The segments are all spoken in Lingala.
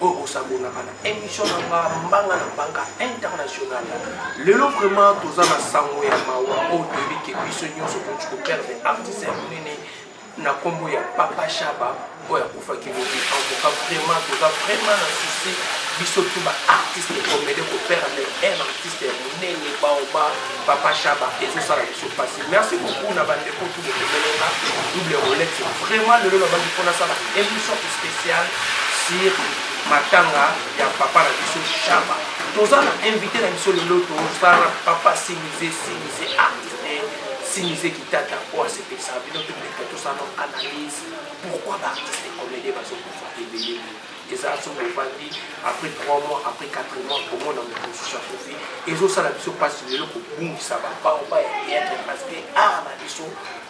oyo kosabonaka na emission na nga mbanga na mbanga international lelo vraiment toza na sango ya mawa oyo toyebi ke biso nyonso toki koperdre artiste ya monene na nkombo ya papa shaba oyo akufaki lobi antoka vraiment toza vraiment na susi biso tu baartiste komede koperdre un artiste ya monene baoba papa shaba ezosala biso mpasi merci beaucoup na bandeko Emeleka double rolex vraiment lelo na bandi pona sala emission special sur matanga ya papa na biso Shaba toza na invité na biso lelo tozala papa Simize Simize artiste Simize Kitata oyo asepelisa bino tobeta tosala analyse pourquoi ba artiste comédien bazokufa ebele Eza soki ovandi après 3 mois après 4 mois komona moto mosusu akufi ezosala biso mpasi lelo kobungisa babaoba ya theatre parce que art na biso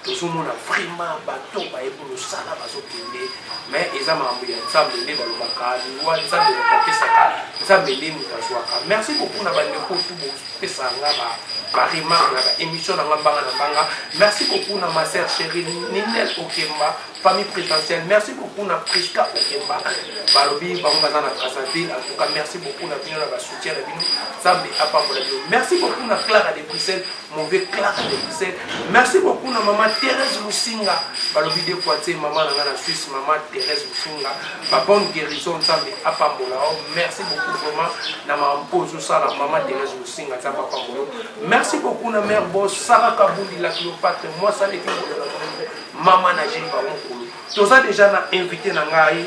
tozomona vraiment bato bayebi mosala bazokende mais eza makambo ya nzambe nde balobaka liwa nzambe moto apesaka nzambe nde moto azwaka merci beaucoup na bandeko tu bopesa nga ba baremarke na baémission na nga mbanga na mbanga merci beaucoup na maser chéri ninel okemba Famille presidentielle merci beaucoup na Prisca Okemba balobi bango baza na Brazzaville en tout cas merci beaucoup na bino na ba soutien na bino Nzambe apambola bino merci beaucoup na Clara de Bruxelles mauvais Clara de Bruxelles merci beaucoup na maman Thérèse Lusinga balobi de fois tse maman na nga na Suisse maman Thérèse Lusinga ba bonne guérison Nzambe apambola oh merci beaucoup vraiment na ma mpozo sala maman Thérèse Lusinga Nzambe apambola merci beaucoup na mère Boss Sarah Kabundi la Cléopâtre moi ça les qui Maman na Gilles Bamukulu, toza deja na invité na ngai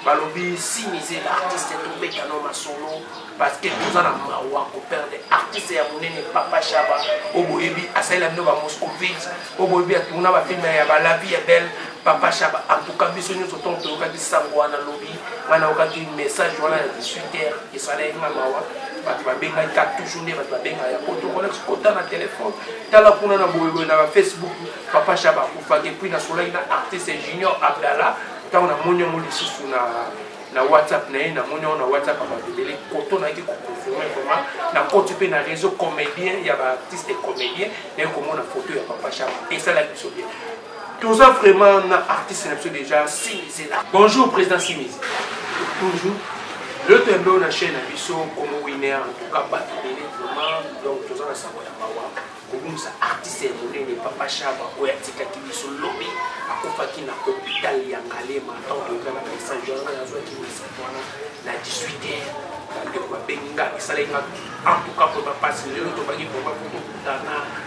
balobi si mise l'artiste tobeta no masolo parce que toza na mawa koperde artiste ya monene papa shaba oyo boyebi asalela bino bamoscovit oyo boyebi atuna bafilme ya balavi ya belle papa shaba antuka biso nyonso ntongo toyokaki sango wana lobi ngai nayokaki message wana ya 18 heure esalaki nga mawa bato babengaki ka toujours nde bato babengaka ya poto kolex kota na telefone tala kuna na boyeboye na bafacebook papa shaba akufaki epuis nasolaki na artiste junior abdallah ntango namoni yango lisusu na na whatsapp na ye namoni yango na whatsapp ya bato ebele koto nayaki koconfirme vraiment nakoti mpe na réseau comédien ya baartiste comédien naye komona foto ya papa shaba esalaki biso bien Toza vraiment na artiste na biso deja Simi Zela. Bonjour président Simi. Bonjour. Le tembo na chaîne na biso Congo Winner en tout cas bato ebele vraiment donc toza na sango ya mawa kobungisa artiste ya monene papa Shaba oyo atikaki biso lobi akufaki na hôpital ya Ngalema temps de grève na Saint Jean na azwaki message wana na 18 heures bandeko babengi nga esalaki nga en tout cas mpo bapasi lelo tobaki vraiment kokutana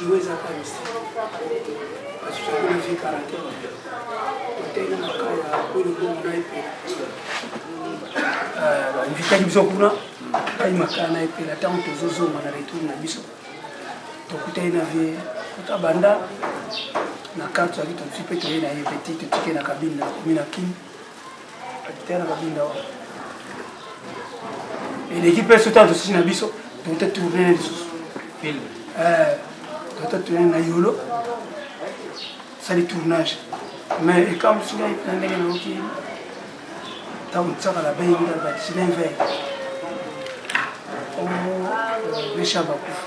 liwa eza kaka misala kasi tozali na vie karate toteli maka ya oyo lobongo na ye mpe invitaki biso kuna ngai makala na epela ntango tozozonga na retour na biso tokutani na vie kuta banda na karte azali tozwi mpe toye na ye peti totike na kabine na komi na kini Akitana babinda wana. Eleki mpe soki tala tosusi na biso tote tourne lisusu. Film. Eh, tote tourne na yolo sali tournage mais ekamwisi ngai na ndenge nayoki ntango tisaka na bei ngai basilin vei omo mesha bakufa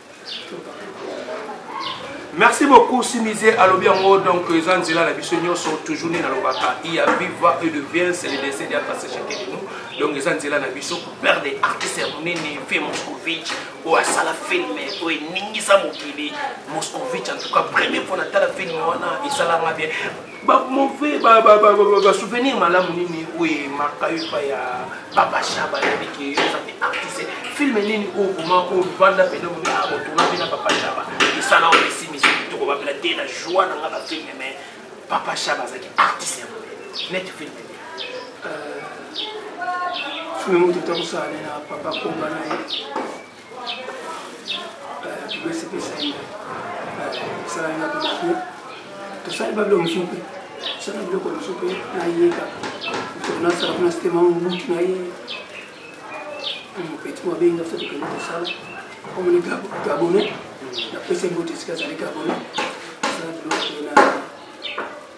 Merci beaucoup Simize alobi yango donc eza nzela na biso nyonso toujours nde nalobaka il y a viva et de bien c'est le décès de passé chacun de nous donc eza nzela na biso père des artistes ya monene mpe moscovitch oyo asala filme oyo eningisa mokili moscovitch en tout cas premier mpo natala filme wana esalanga bien ba mauvais ba ba ba ba ba souvenir malamu nini oye marka yo epai ya papa shaba yebi ke oza te artiste filme nini oyo koma oyo vanda pene omi akotuna mpe na papa shaba esala oyo esimisi kitoko bapela te na joie na nga na filme mais papa shaba azalaki artiste ya monene net filme filme moto tokosalana na papa komba na ye tosali babilo mosusu mpe tosali biloko mosusu mpe nayeka nasala kuna sitema mobutu na ye mopeti mabenga biso tokende kosala omoni gabonais napesa mbote esika azali gabonais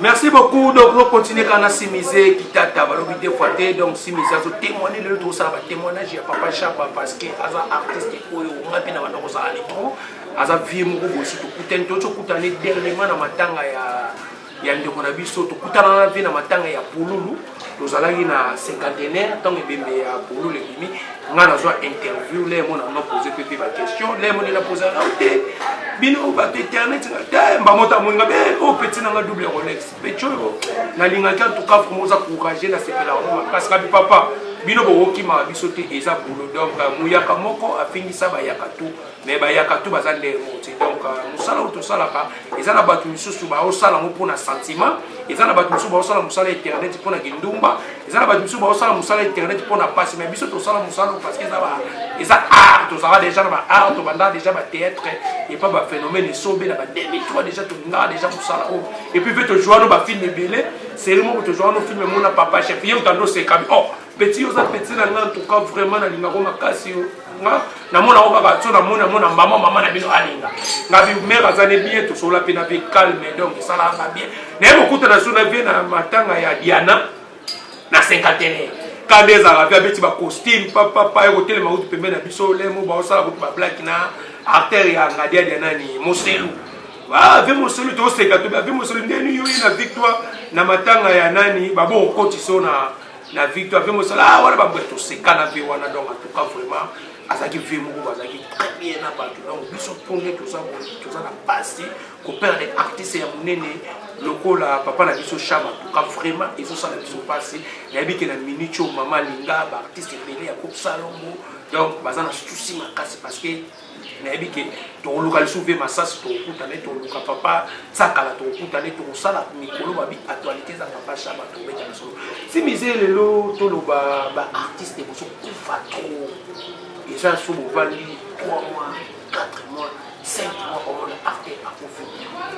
Merci beaucoup. Donc, nous continuons quand on a simisé Kitata, Balobi deux fois, donc simisé, azo témoigner le tout ça, témoignage à Papa Chapa parce que aza artiste et oyo on a bien dans nos alétrons, aza vieux moko bosi tout kutan, tout kutan dernièrement dans matanga ya ya ndeko na biso tokutana na vie na matanga ya pululu tozalaki na cinquantenaire ntango ebembe ya pululu ebimi nga nazwa interview le mona no pose mpe mpe baquestion le moni na pose nao te bino bato internet nga te mbamota amoninga be o oh, peti na nga double rolex peti oyo nalingaki antuka vraimen oza courage nasepela yango makasi kabi papa bino bokokima biso te eza boulodom muyaka moko afingisa bayaka to mais bayaka tu baza ndenge moko te donc euh, mosala oyo tosalaka eza na bato misusu baosala yango mpona sentiment eza na bato misusu baosala mosala internet mpona kindumba eza na bato misusu baosala mosala internet mpona mpasi mais biso tosala mosala oyo parce que eza eza art tozalaka déjà na baart tobandaka déjà bathéâtre epa baphénomène esobe na ba 2003 déjà tolingaka déjà mosala oyo epuis mpe tojoua no bafilme ebele série moko tojoua no filme mona papa chef ye otando osekabi oh Petit oza petit na nga en tout cas vraiment na linga ko makasi yo. Nga na mona ko kaka tso na mona mona maman maman na bino alinga. Nga bi mère aza ne bien to sola pe na pe calme donc sala ba bien. Na yebo kuta na suna bien na matanga ya Diana na cinquantenaire. Kande ezala pe abeti ba costume papa papa yo kotelema utu pembe na biso lemo ba osala ko ba black na artère ya ngadia dia nani moselu. Ah, ve moselu to seka to be moselu ndeni yo na victoire na matanga ya nani babo okotisa na na vie to ape mosala ah, wana baboya tosekana mpe wana donc atuka vraiment azalaki vie moko bazalaki très bien na bato donc biso tonde toza na pasi koperdre artiste ya monene lokola papa na biso shama tuka vraiment ezosala biso pasi nayebi ke na minute oyo mama alinga baartiste ebele ya kopsalongo donc baza na susi makasi parce que nayebi ke tokoluka lisusu ve masasi tokokuta nde toluka papa tsakala tokokuta nde tokosala mikolo babi actualité eza papa shaba tobeta na solo si mize lelo toloba baartiste bozokufa trop eza so bovandi 3 mois 4 mois 5 mois omona arte akufi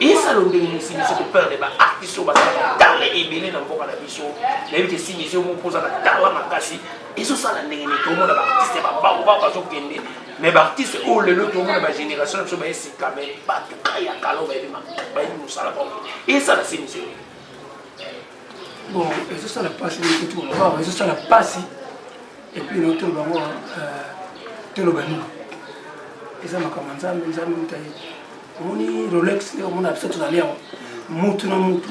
esalo ndenge mosimisi koperde baartiste oyo bazalaka tala ebele na mboka na biso nayebi te simisi oyo moko ozala tala makasi ezosala ndenge nini tomona baartiste babango bao bazokende mais ba artiste oyo lelo tomona ba génération na biso baye sika mais bato kaka ya kala bayebi bayebi mosala bango esala se misio bon ezosala mpasi nikutukolobaa ezosala mpasi epuis no toloba ngo euh, toloba nini eza makambo ya nzambe nzambe moto ayebi omoni rolex nde omona biso tozali yango mutu na mutu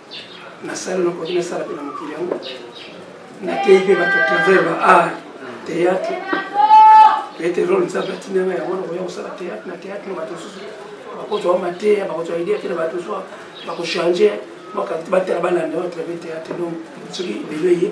nasali nakoki nasala mpe na mokili yango nateyi mpe bato ya travers ba art théâtre ete role nzambe atinanga yango nakoya kosala théâtre na théâtre na bato mosusu bakozwa mateya bakozwa idea mpe na bato mosusu bakochange batala balanda yo atrave théâtre donc soki lelo eye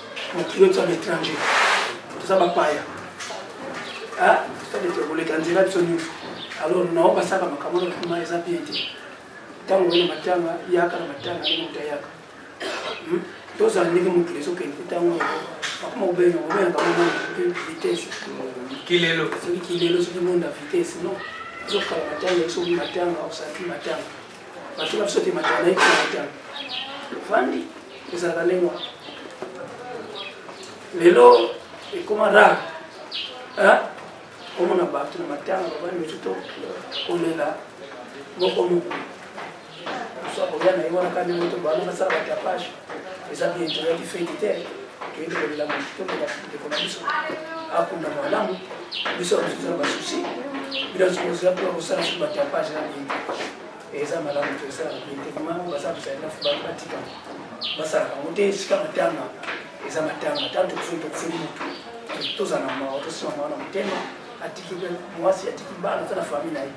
patriote ya l'étranger toza bapaya sadete koleka nzela biso nyonso alors nao basaka makambo na kuma eza bien te ntango oye na matanga yaka na matanga ndenge moto ayaka hmm? tozala ndenge mokili ezokende te ntango bakoma kobenga kobenga kamona vitesse kilelo soki kilelo soki monda vitesse non ezokala matanga soki matanga osaki matanga bato na biso te matala na ekiata ofandi ezalaka ndenge wana lelo ekoma rare omona bato na matanga babandi mosu to kolela moko moko mosu akoya na ye wana kani moto bana basala batapage eza bien toyaki fete te toyeki kolela motondo ya ndeko na biso akunda malamu biso ya mosusu na basusi bino sokozela mpona kosala su batapage na bien eza malamu tosala bien te mango baza kosalela batika basalaka yango te esika matanga eza matanga ntango tokufi tokufi motu tozala na mawa tosima mawa na motema atiki mwasi atiki bana aza na famille na ye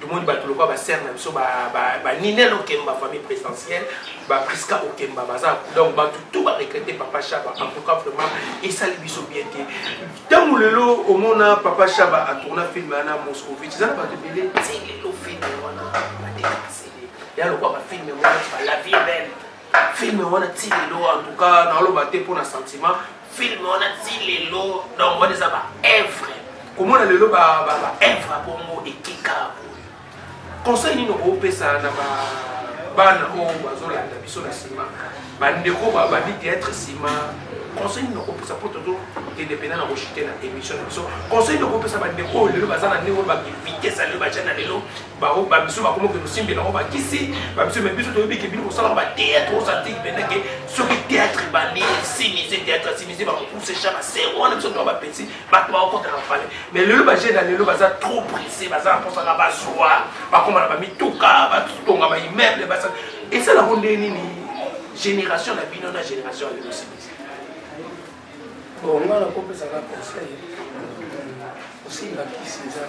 Tomoni batu lokola ba sœur na biso ba ba, ba Ninel Okemba famille présidentielle, ba Prisca Okemba baza donc batu tout ba regretter papa Shaba en tout cas vraiment esali biso bien te. Tango lelo omona papa Shaba a tourna film na Moscovitch eza na batu ebele ti lelo film wana ba décasser. Ya lokola ba film wana la vie est belle. Film wana ti lelo en tout cas na oloba te pona sentiment film wana ti lelo donc wana eza ba evre komona lelo ba evre bongo etika conseil nini okopesa na ba bana oyo bazolanda biso na nsima bandeko babandi teatre nsima conseil nini okopesa mpo tozokende mpena na koshite na émission na biso conseil nini okopesa bandeko oyo lelo baza na ndenge oyo bavitese ya lelo baja na lelo bango ba biso bakoma ke tosimbe nango bakisi ba biso me biso toyebi ke bino kosala ba théâtre osantiki mpenza ke soki théâtre ebandi simise théâtre simise bakopuse cha basere wana biso toa bapeti bato bakokota na pale mais lelo bajeune ya lelo baza trop pressé baza na mposaka bazwa bakoma na bamituka batonga ba immeuble basa esalango nde nini génération na bino na génération ya lelo simise bon nga nakopesaka conseil osilakisi eza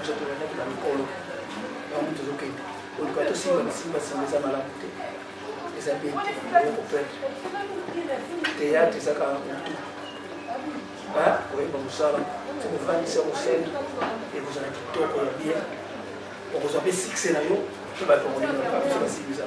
biso tolandaki na mikolo yango tozokende oluka tosimba bisimba simba eza malamu te eza bien te okoperdre teyatre ezaka motu ba koyeba mosala okofandisa mosali ekozala kitoko ya bien okozwa mpe sikse na yo mpe bato bakolinga biso basimbi eza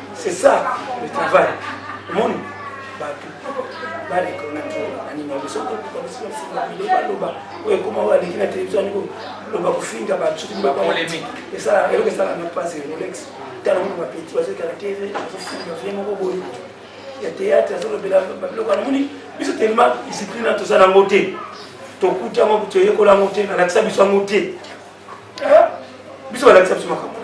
C'est ça le travail. Omoni bato barekonaki banini yango soki tokokabisinga bile baloba oyo ekoma oyo aleki na televizio yango loba kofinga batuki esala eloko esala na pasi rolex tala moko bapeti bazokala te azofinga vie moko boye ya théâtre azolobela babiloko wana moni biso telema discipline na toza nango te tokuti yango toyekola yango te nalakisa biso yango te biso balakisa biso makambo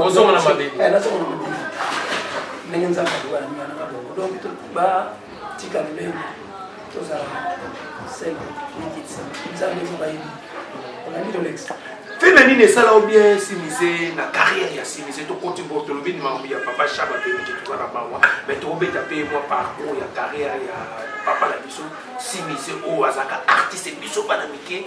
ozonga na mabele eh, nazonga na mabele ndenge nzambe akoka na minga nanga bongo donc batika lolenge tozala selo mikitisa nzambe eko bayebi olandi tolekisa fina nini esala o bien simise na carrière ya simise tokoti bo tolobi makambo ya papa shaba toyebiki toza na mawa me tokobeta mpe mwa parcours ya carrière ya papa na biso simise oyo azalaka artiste biso bana mike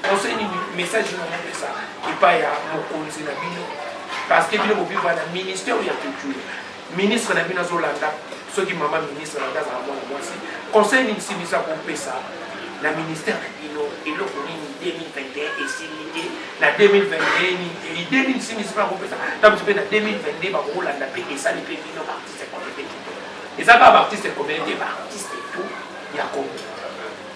Conseil nini message nini omopesa epai ya mokonzi na bino parce que bino bobiva na ministère ya culture ministre na bino azolanda soki mama ministre na azala mwana mwasi conseil nini simisa kopesa na ministère na bino eloko nini 2021 esili te na 2021 nini idée nini simisi mpe akopesa ntango mpe na 2022 bakolanda mpe esali mpe bino baartiste communauté eza kaka baartiste communauté baartiste tout ya komi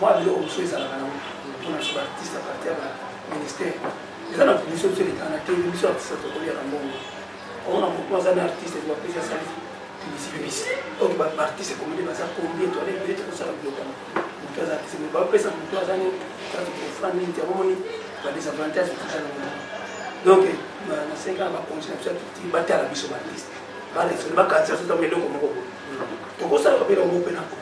Mua biloko mosusu ezalaka nango mpona biso ba artiste a partir ya ba ministère eza na biso biso elekaka na tv biso artiste tokoliaka mbongo omona motu aza na artiste bapesi asali publicité donc ba artiste komoni baza combien toana ebele tokosala biloko yango motu aza artiste mais bapesa motu aza ne kati kofra nini te omoni ba désavantage toza na mona donc nasenga na bakonzi na biso ya culture batala biso ba artiste balesole bakanisa sotambe eloko moko boye tokosalaka mpe na ngo mpe na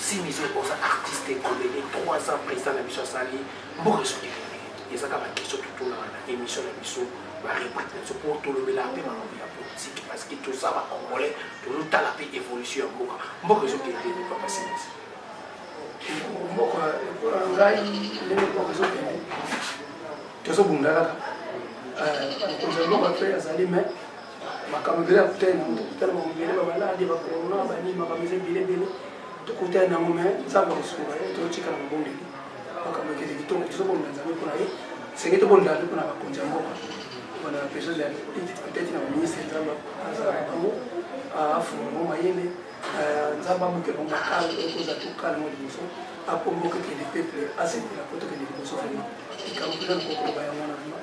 Simizo oza artiste et comedien trois ans president na biso asali mboka esoki nini eza kaka ba question totunaka na emission na biso ba rubrique na biso po tolobelaka pe makambo ya politique parce que toza ba congolais tozotala pe evolution ya mboka mboka ezokende nini papa simizo mboka lokola ngai ndenge mboka ezokende tozobunda kaka mokonzi ya mboka pe azali mai makambo ebele ya kutani na moto kutana makambo ebele bamaladi ba corona banini makambo eza ebele ebele tokutani na yango me nzambe akosunga ye totika na mabondeli makambo ekende kitoko tozobonda nzambe mpo na ye senge tobondela mpe mpo na bakonzi ya mboka mpo na besoin ya petite na baministre nzambe azala na bango afunga bango mayele nzambe abuke bango makala okozala tokala yango liboso akomboka ekende peuple asepela mpo tokende liboso vraimen likambo mpenza nakokoloba yango wana vraimen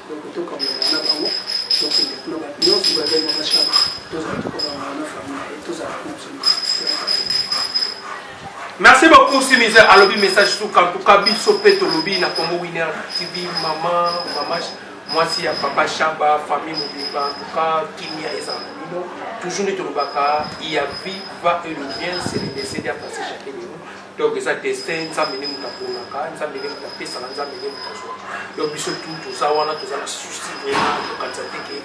Donc to kangana na bango to kende kuna ba nyo ba ba ba shaba to za to kangana na famille to za ko tsuma. Merci beaucoup Simizer alobi message suka en tout cas biso pe to lobi na Congo Winner TV maman maman mwasi ya papa shaba famille mobimba en tout cas kimia eza na bino toujours nde tolobaka il y a vie va et le bien c'est le décès à passer chacun de nous Donc eza destin nzambe nde moto aponaka nzambe nde moto apesaka nzambe nde moto azwaka donc biso tu toza wana toza na souci vraiment tokanisa te ke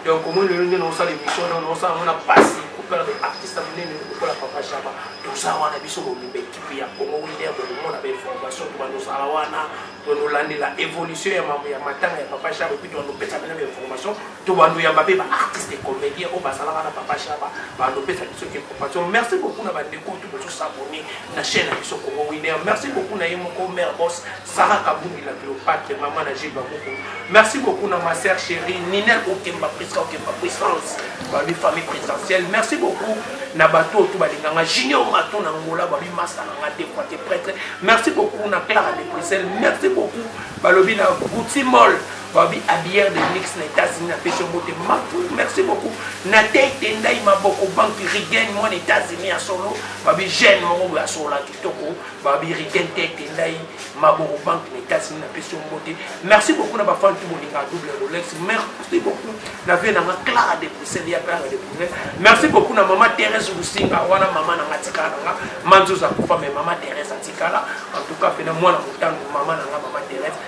donc omoni lelo nde naosala émission donc naosala yango na pasi kopela ba artiste ya monene lokola papa shaba toza wana biso mobimba ekipe ya congo winer bokomona ba information tobandosala wana tonolandela évolution ya matanga ya papa shaba epuis toandopesa bena ba information To ba luyamba pe ba artistes comediens oyo bazalaka na papa shaba ba ndo pesa biso information merci beaucoup na ba ndeko oyo tout bozo s'abonner na chaine na biso congo winner merci beaucoup na ye moko mère boss Sarah kabungi la cleopatre maman na Gilles babuku merci beaucoup na ma sœur chérie Nina Okemba Prisca Okemba puissance ba bi famille présidentielle merci beaucoup na bato oyo tout balinganga junior maton na ngola ba bi masta na nga des fois te prêtre merci beaucoup na Clara de Bruxelles merci beaucoup balobi na Gucci Mall Balobi habilleur de luxe na etats unis na pesi yo mbote maku merci beaucoup natey tendai maboko banque rigen mwana etats unis ya solo balobi jeune moko boye asolola kitoko balobi rigen tey tendai maboko banque na etats unis na pesi yo mbote merci beaucoup na bafani tu bolinga double rolex merci beaucoup na vie nanga clara de bruxelles ya clara de bruxelles merci beaucoup na mama therese lusinga wana mama nanga atikala nanga manzoza kufa me mama therese atikala en tout cas pena mwana motango mama nanga mama therese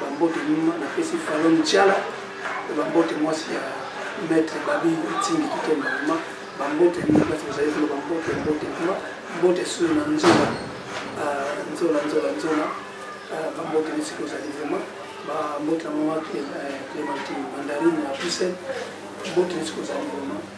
Ba mbote mima na pesi Falonne Tshiala pe ba mbote mwasi ya Maitre Babi Etindi Kitomba mima ba mbote mima basi bozali kuna ba mbote mbote mima mbote sur na nzola nzola nzola nzola ba mbote nisi kozali vraiment ba mbote na mama Clementine Mandarine ya Bruxelles mbote nisi kozali vraiment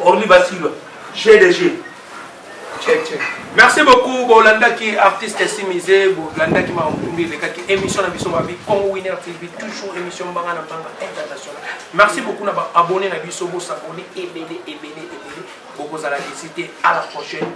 Orly Basilwa jeu de jeu check check merci beaucoup bolandaki artiste simize bolandaki makambo elekaki émission na biso babi congo winner tv toujours émission mbanga na mbanga international merci beaucoup na baabonné na biso bosabone ebele ebele ebele bokozala desite à la prochaine